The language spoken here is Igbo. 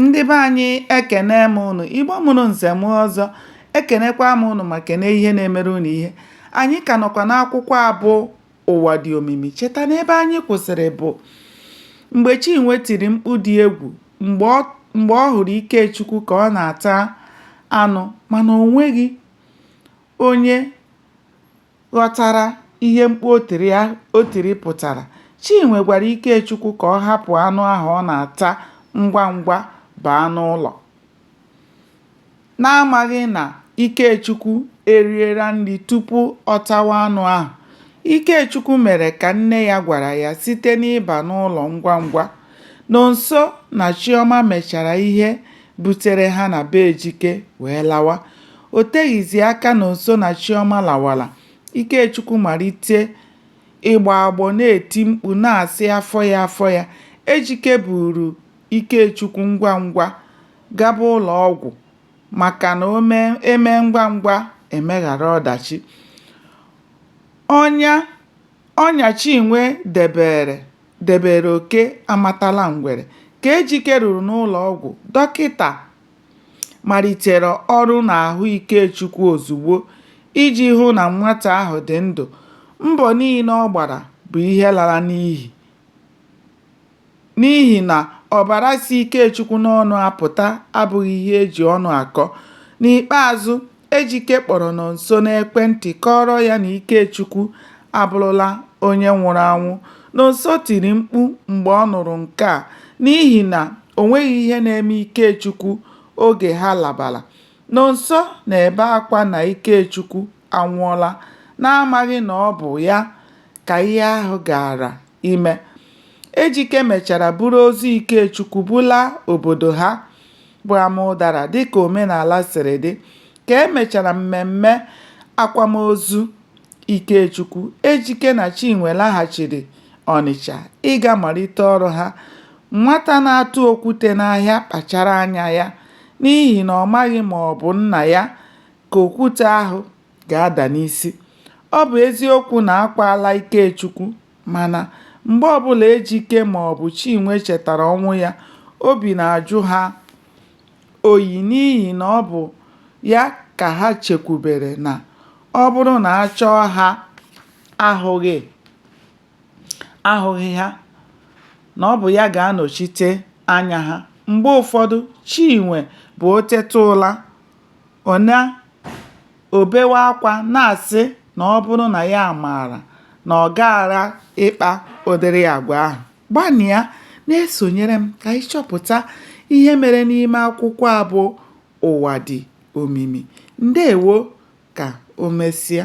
ndị be anyị ekene m unu igbo mụrụ nze mụọ ọzọ ekenekwa m unu ma kene ihe na-emere unu ihe anyị ka nọkwa n'akwụkwọ a bụ ụwa dị omimi cheta na ebe anyị kwụsịrị bụ mgbe chinwe tiri mkpu dị egwu mgbe ọ mgbe ọ hụrụ ikechukwu ka ọ na-ata anụ mana o nweghị onye ghọtara ihe mkpu o tiri a- o tiri pụtara, Chinwe gwara Ikechukwu ka ọ hapụ anụ ahụ ọ na-ata ngwa ngwa baa n'ụlọ. N'amaghị na Ikechukwu eriela nri tupu ọ tawa anụ ahụ, Ikechukwu mere ka nne ya gwara ya site n'ịba n'ụlọ ngwa ngwa. Nonso na Chiọma mechara ihe butere ha na be Ejike wee lawa. O teghizi aka Nonso na Chioma lawara, Ikechukwu malite ịgbọ agbọ na-eti mkpu na-asị afọ ya afọ ya. Ejike buuru Ikechukwu ngwa ngwa gaba ụlọ ọgwụ maka na e mee ngwa ngwa e meghara ọdachi. Ọnya ọnya Chinwe debere debere oke amatala ngwere. Ka Ejike ruru n'ụlọ ọgwụ, dọkịta malitere ọrụ n'ahụ Ikechukwu ozugbo iji hụ na nwata ahụ dị ndụ, mbọ niile ọ gbara bụ ihe lara n'iyi n'ihi na ọbara si Ikechukwu n'ọnụ apụta abụghị ihe e ji ọnụ akọ. N'ikpeazụ, Ejike kpọrọ Nonso n'ekwentị kọọrọ ya na Ikechukwu abụrụla onye nwụrụ anwụ. Nonso tiri mkpu mgbe ọ nụrụ nke a n'ihi na o nweghị ihe na-eme Ikechukwu oge ha labara. Nonso na-ebe akwa na Ikechukwu anwụọla n'amaghị na ọ bụ ya ka ihe ahụ gaara ime. Ejike mechara buru ozu Ikechukwu bulaa obodo ha. bụ Amaụdara dịka omenala siri dị. Ka e mechara mmemme akwamozu Ikechukwu, Ejike na Chinwe laghachiri Ọnịcha ịga malite ọrụ ha. Nwata na-atụ okwute n'ahịa kpachara anya ya n'ihi na ọ maghị ma ọ bụ nna ya ka okwute ahụ ga-ada n'isi. Ọ bụ eziokwu na a kwaala Ikechukwu Mana, mgbe ọbụla Ejike maọbụ Chinwe chetara ọnwụ ya, obi na-ajụ ha oyi n'ihi na ọ bụ ya ka ha chekwubere na ọ bụrụ na a chọọ ha ahụghị, ahụghị ha, na ọ bụ ya ga-anọchite anya ha. Mgbe ụfọdụ, Chinwe bụ o teta ụra, ọ na, O bewe akwa na-asị na ọ bụrụ na ya maara na ọ gaghara ịkpa ụdịrị agwa ahụ. Gbanịa na-esonyere m ka anyị chọpụta ihe mere n'ime akwụkwọ a bụ Ụwa Dị Omimi. Ndewo ka o mesịa.